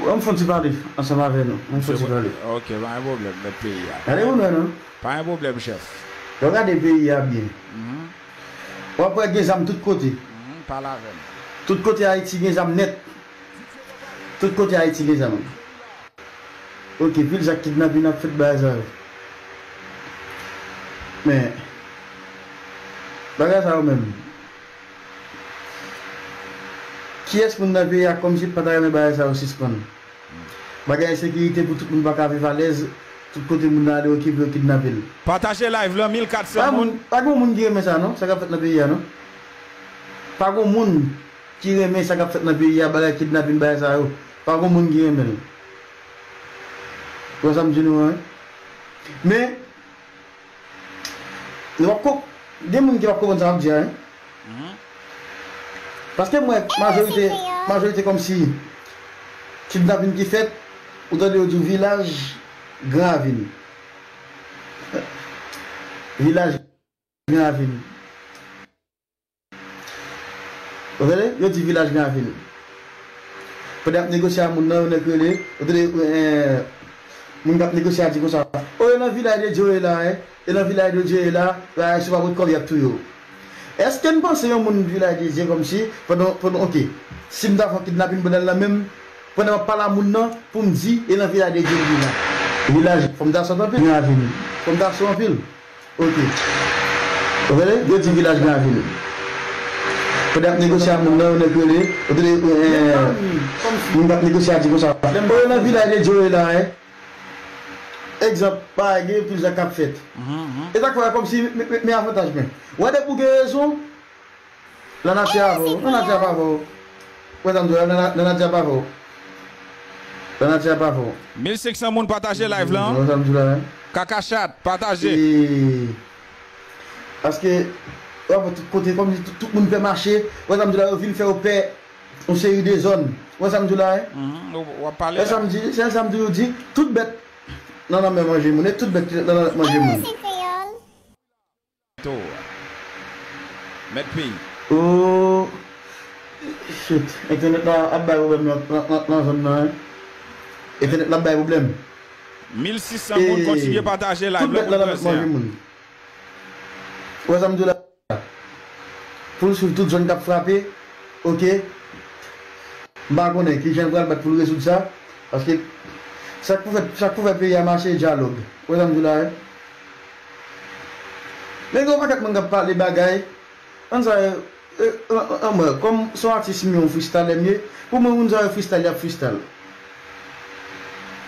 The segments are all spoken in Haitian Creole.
An m fon ti pale ansanm avè nou. An m fon ti pale. Ok, pa gen pwoblèm, mèt peyi a. Gade pou n wè non. Pa gen pwoblèm, chèf. Lè w gade peyi a byen, w ap wè gen zam tout kote. Pale avè m. Tout kote Ayiti gen zam nèt. Tout kote Ayiti gen zam. Ok, pil zak kidnapin ap fèt bagay sa yo. Men, bagay sa yo menm. Kiyès moun nan peyi a kòmsi pata renmen bagay sa yo sispann. Bagay ensekirite pou tout moun paka viv alèz tout kote moun nan ale yo kipe yo kidnape l. Pataje live lan 1400 moun. Pa gon moun ki renmen sa non, sa kap fèt nan peyi a non. Pa gon moun ki renmen sa kap fèt nan peyi a bagay kidnapin bagay sa yo. Pa gon moun ki renmen l. Ou wè sa m di nou an wi. Men. Nou pap konp gen moun ki pap konprann sa map di a hein paske m wè majorite majorite kòmsi kidnapin ki fèt ou tande yo di w vilaj gran ravin vilaj gran ravin. Ou tande, yo di vilaj nan vil. Pandan y ap negosye a moun nan, yon nèg rele, ou tande, moun k ap negosye a di konsa, O e nan vilay de Dye w ye la a, e nan vilay de Dye w ye la a, si w pa pot kòb y ap touye w. Èske n panse yon moun vilay de Dye kòmsi, pandan, pandan, oke, si m ta fè yon kidnapin pandan l nan men m, pandan m ap pale a moun nan pou m di e nan vilay de Dye w ye la a. Vilaj, fò m ta sòt anpil nan aveni. Fò m ta so anpil. Ok. Ou rele? Yo di vilaj la vil. Pandan yap negosye a moun nan yon nèg rele, ou tande eeh moun kap negosye a di konsa, ou yo nan vilaj e djo e la e. Egzanp, pa gen pil zak kap fèt. E sak fè wè kòmsi me avantaj mwen. Wè depi ou gen rezon. Lanati a avè w Lanati a pa vè w Wè sa m di w la Lanati a pa vè w Lanati a pa vè w. 1500 moun pataje live lan Kaka chat pataje. Paske wap wè tout kote kòm si tout moun pè mache wè sa m di w la yo vin fè w pè yon seri de zòn wè sa m di w la wè sa m di se sa m toujou di tout bèt nan lanmè manje moun e tout bèt ki nan lanmè manje moun. Tour a. Mèt peyi. Ooh shit entènèt la ap bay problèm lan zòn nan hein entènèt la ap bay problèm. Mil 600 moun kontinye pataje live la pou n pèse a. Wè sa m di w la pou l swiv tout zòn k ap frape ok m pa konnen kijan l pral bat pou l rezoud sa paske sa k pou fèt sa k pou fè peyi a mache dyalòg wè sa m di w la hein Men gen yon paket moun kap pale bagay Moun sa yo Anmwey kom son atis m ye yon fristalè m ye Pou mwen moun sa yo fristal yap fristal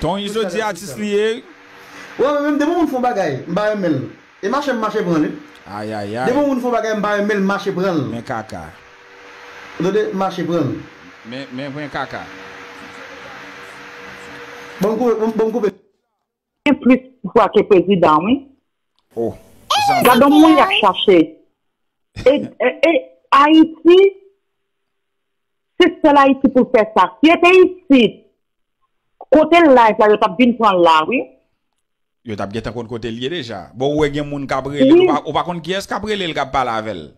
Ton izo di atis li ye wi. Wè mwen menm depi yon moun fon bagay m pa renmen l e mache m mache pran l wi Depi yon moun fon bagay m pa renmen l mache pran l Men kaka. Ou tande mache pran l. Men men kaka. Bon m koupe. Gen plis vwa ke prezidan wi. Oh zanmi. Gadon moun yap chache. E Haiti se sel Haiti pou fe sa. Si e te isit kote live la yo tap vin pran l la wi. Yo tap gentan konn kote l ye deja. Bon ou we gen moun kap rele l ou pa konn kiyes kap rele l kap pale avel.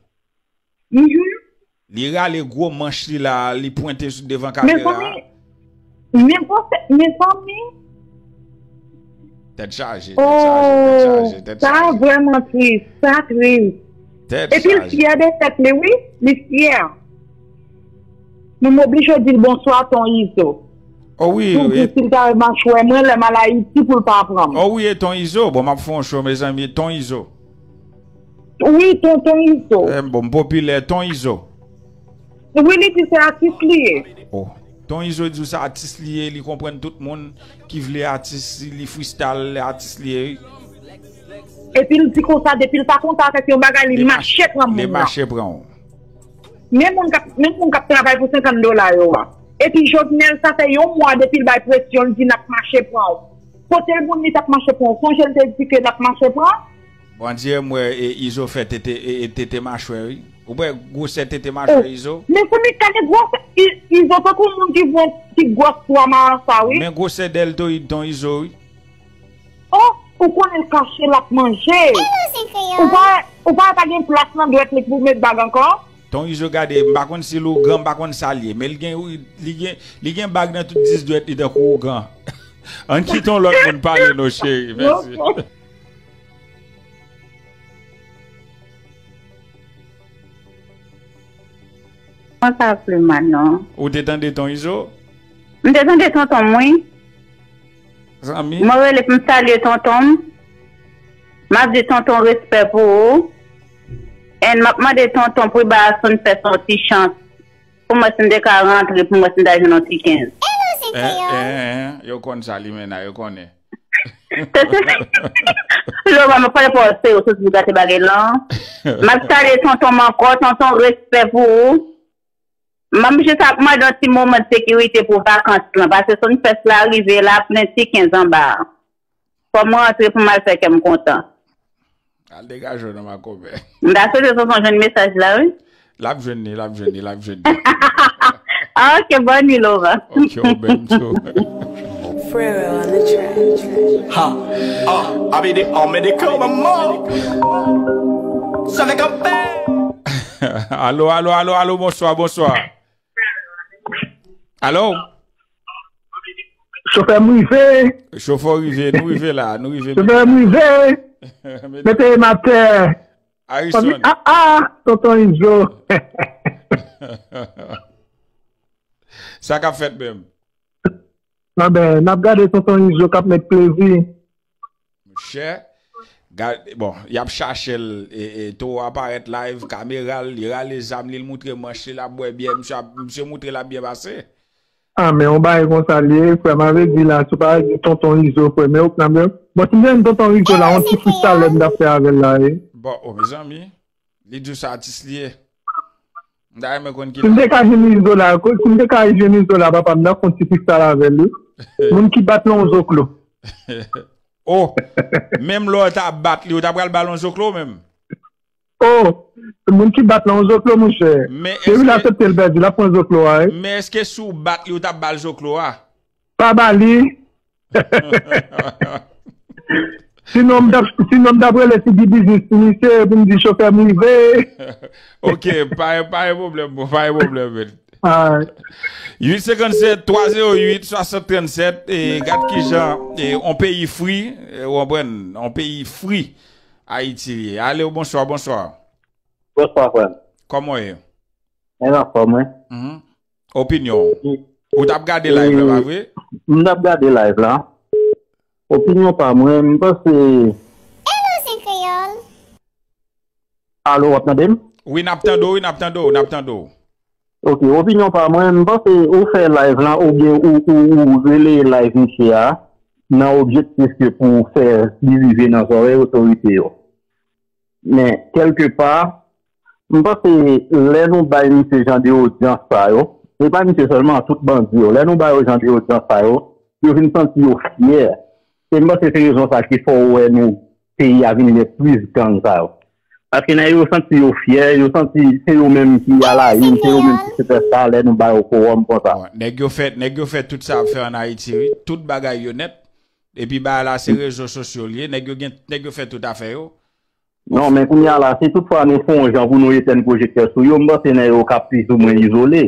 Mhumm. Li rale gwo manch li la li pwente sou devan kamera a. Mezanmi mezanmi. Tèt chaje tèt chaje tèt chaje tèt chaje. Sa vrèman tris sa tris. Tèt chaje. Epil fyè de tèt li wi li fyè. Nou m oblije dil bonswa ton izo. O wi. Pou di sil ta wè machwè mwen lèm al ayiti poul pa pranm. O wi e ton izo bon map fon cho mezanmi ton izo. Wi ton ton izo. M bon m popilè ton izo. Wi li di se atis li ye. Oh ton izo di w se atis li ye li konprann tout moun ki vle atis li fristal atis li ye wi. Epi l di konsa depi l pa kontan avèk yon bagay li mache pran moun nan. Li mache pran w. Menm moun kap menm moun kap travay pou 50 dola yo a. Epi Jovenel sa fè yon mwa depi l bay presyon l di nap mache pran w. Kote moun li tap mache pran ou sonjel te di ke lap mache pran. Bon Dieu m wè izo fè tete tete machwè wi ou p wè gwosè tete machwè izo. Mezanmi gade gwosè izo tankou moun ki jwenn ti gwòs pwa marasa wi. Men gwosè dèltoyid ton izo wi. Oh ou konnen l kache lap manje. Ou pa wè pa gen plas nan dwèt li pou met bag ankò. Ton izo gade m pa konn sil ougan m pa konn sal ye men li gen li gen li gen bag nan tout 10 dwèt li tankou ougan ann kite yon lòt moun pale non cheri mèsi. Mwen pa vle mal non. Ou te tande ton izo? M te tande tonton m wi. Zanmi. Mwen rele pou m salye tonton m. M ap di tonton respè pou ou. And map mande tonton pou Ibaasson fè son ti chans pou mwen si m te ka rantre pou mwen si m ta jwenn yon ti 15. Eehh yo konn sa limena yo konnen. Loman mwen pral fòse ou soti pou gate bagay lan map salye tonton m ankò tonton respè pou ou map jis ap mande yon ti moman sekirite pou vakans lan pase Sunfest la rive la plen ti 15 anba a. Fòm mwen antre pou m al fè kèm kontan. Al degaje w nan makomè. M ta swete sonson jwenn mesaj la wi. Lap jwenn li lap jwenn li lap jwenn li. Ok bon nuit Lova. Ok ou menm tou. Alo alo alo alo bonswa bonswa. Alo! Chofè m rive! Chofè w rive, nou rive la, nou rive mete Chofè m rive! Mete m atè! Ariston! A a! Tonton Izo! Sa k ap fèt menm? Nan ben, nap gade tonton izo kap met plezi. Monchè Gade bon yap chachel Toro a parèt live kameral li rale zam li l moutre manch li lap bwè byè misye moutre lap byen pase. Ah men yon bagay konsa li ye frè mave di la sou pa di tonton izo frè men ok nan bon si m te jwenn tonton izo la yon ti fri salè m tap fè avèl la wi. Bon oh mezanmi. Li di w se atis li ye. M ta renmen konn ki lè. Si m te ka jwenn Izola, si m te ka jwenn Izola papa m ta fon ti fristal avè l wi. Moun ki bat lon zoklo. Oh! Menm lè w ta bat li, ou ta pral ba l yon zoklo menm? Oh! Moun ki bat lon zoklo mon chè. Depi l asepte l pèdi, l ap pran zoklo a wi. Men eske si w bat li, ou ta ba l zoklo a? Pa ba li. Sinon m tap si non m tap rele si di biznis pou misye pou m di chofè m rive. ok pa pa gen problem bro pa gen problem men. Alright. 857 308 6037 e gad kijan e on peyi fri ou konprann on peyi fri Ayiti li ye. Alo bonswa bonswa. Bonswa frè m. Kòman ou ye? Mwen anfòm wi. Opinion Ou tap gade live la pa vre? M tap gade live la Opinion pa mwen m panse Hello zen kreyol. Alo wap tande m? Wi nap tande w wi nap tande w nap tande w. Ok opinion pa mwen m panse ou fè live la ou byen ou rele live misye a nan objektif ke pou fè li rive nan zorey otorite yo men kelke pa M panse lè nou bay misye jan de odyans sa yo, e pa misye sèlman, tout bandi yo, lè nou ba yo jan de odyans sa yo, yo vin santi yo fyè. E m panse se rezon sa ki fè w wè nou peyi a vin gen plis gang sa yo. Paske nèg yo santi yo fyè, yo santi se yo menm ki a la in, se yo menm ki sipèsta lè nou ba yo kowòm konsa. Nèg yo fè, nèg yo fè tout sa y ap fè an Ayiti wi. Tout bagay yo nèt. Epi bagay la se rezo sosyo l ye. Nèg yo gen, nèg yo fè tout afè yo. Non, men kounya la, si tout fwa nou fon jan pou nou etèn pwojektè sou yo, m panse nan yo kap plis ou mwen izole.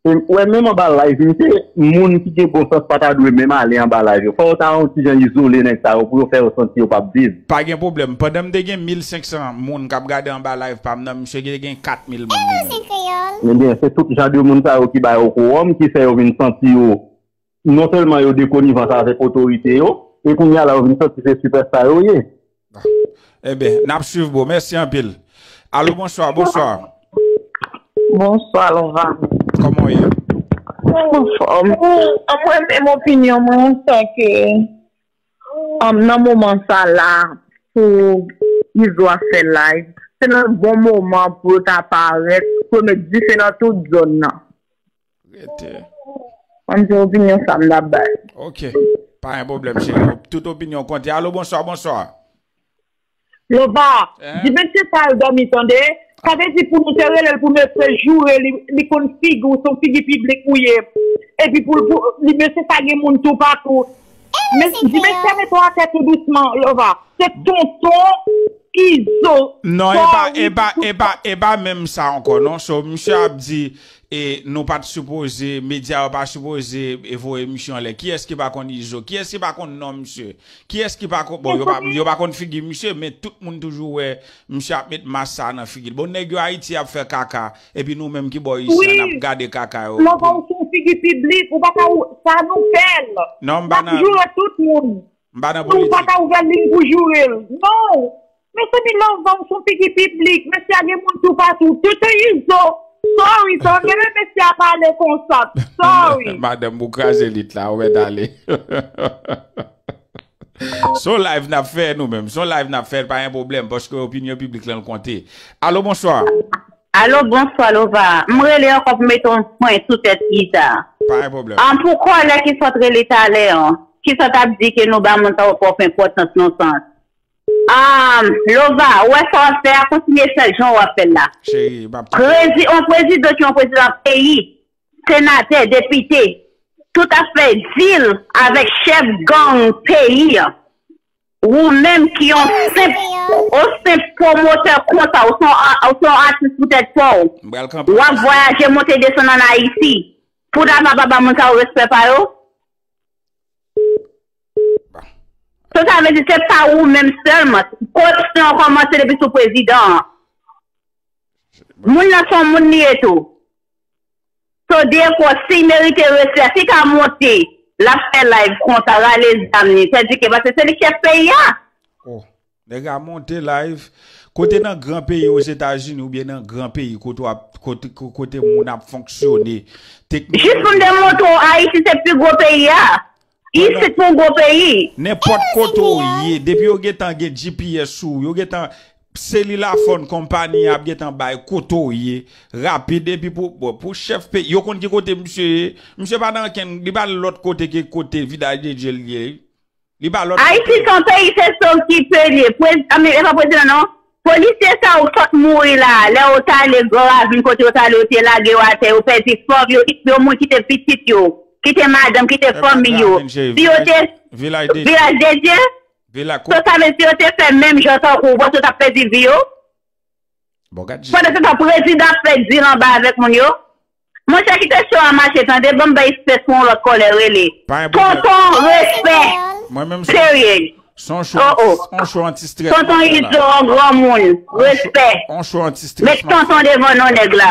E m kwè menm anba live m se moun ki gen bon sans pa ta dwe menm ale anba live yo. Fò yo ta on ti jan izole nèg sa yo pou yo fè yo santi yo pap viv. Pa gen pwoblèm. Pandan m te gen 1500 moun kap gade anba live pa m nan, misye te gen 4000 moun li menm. Ebyen, se tout jan de moun sa yo ki ba yo kowòm, ki fè yo vin santi yo Non sèlman yo de konivans avèk otorite yo, e kounye a la yo vin santi se sipèsta yo ye. Enben, n ap swiv bro. Mèsi anpil. Alo bonswa, bonswa. Bonswa Lovan. Kòman w ye? Mwen anfòm. Mwen menm opinyon mwen an sè ke nan moman sa la pou Izo ap fè live, se nan bon moman pou yo ta parèt pou yo met dife nan tout zòn nan. Rete. Mwen di opinyon sa m ta bay. Ok. Pa gen pwoblèm cheri. Tout opinyon konte. Alo bonswa, bonswa. Lova, di mesye sa al dòmi tande. Sa vle di pou nou te rele l pou mesye joure li, li konn figi w, se yon figi piblik ou ye. Epi pou li, mesye sa gen moun toupatou. Di mesye mete w atè tou dousman, Lova. Se tonton Izo. Non, e pa, e pa, e pa, e pa menm sa ankò non. So, misye ap di, E nou pat sipoze, media yo pa sipoze voye misye anlè. Kiyès ki pa konn Izo? Kiyès ki pa konn non misye? Kiyès ki pa konn, bon yo pa konn figi misye men tout moun toujou wè misye ap met mask sa nan figil. Bon nèg yo Ayiti ap fè kaka epi nou menm ki bò isi an nap gade kaka yo. Wi, Slova ou se yon figi piblik, ou pa ka ou, sa nou fèl. Nap joure tout moun. M pa nan politik. Nou pa ka ouvè liy pou jourel. Non! Mezanmi lanvans son figi piblik mesye a gen moun toupatou TT izo sorry sa mwen renmen mesye a pale konsa sorry. Madanm ou kraze lit la ou mèt ale. Son live nap fè nou menm. Son live nap fè pa gen pwoblèm paske opinyon piblik lan konte. Alo bonswa. Alo bonswa lova m rele ankò pou mete yon pwen sou tèt Iza Pa gen pwoblèm. An pou kòlè ki sot rele talè an ki sot ap di ke nou ba moun sa yo twòp enpòtans non sans Aah lova ou wè sa wap fè a kontinye fèl jan wap fèl la prezi on prezidan ki on prezidan peyi senatè depite tout ap fè dil avèk chèf gang peyi an ou menm ki on senp on senp pwomotè konsa ou son ou son atis pou tèt paw wap vwayaje monte desann an ayiti pou ta pa pa ba moun sa yo respè pa yo. So sa vle di se pa ou menm sèlman. Koripsyon an kòmanse depi sou prezidan an. Moun nan son moun li ye tou. So defo sil merite resi a, si ka monte lap fè live konsa rale zam li, sèdike paske se li chèf peyi a. Nèg a monte live kote nan gran peyi ozetazini oubyen nan gran peyi kote wap kote moun ap fonksyone teknoloji Jis pou m te montre w ayiti se pi gwo peyi a isit nou gwo peyi. Nenpòt kote w ye depi yo gentan gen GPS sou ou yo gentan selilafòn konpani ap gentan bay kote w ye rapid epi pou bon pou chèf peyi yo konn ki kote misye ye misye pa nan ankenn li pa lòt kote ke kote vidal dedye l ye wi. Li ba lot yon peyi. Ayiti son peyi se sov ki pe liye prez anmyy epa prezidan non polisye sa yo fòk mouri la lè yo tale gran ravin kote yo tale yo te lage yo atè yo pèdi fanm yo yo moun kite pitit yo kite madanm kite fanmiy yo si yo te vilaj dedye so sa vle di si yo te fè menm jan tankou ou panse yo tap pèdi vi yo pandan se tan prezidan ap fè dil anba avèk moun yo. Monchè kite show a mache tande banm bay spè sou yon lòt kòlè rele tonton respè period oh oh tonton izo an granmoun respè met tonton devan non nèg la.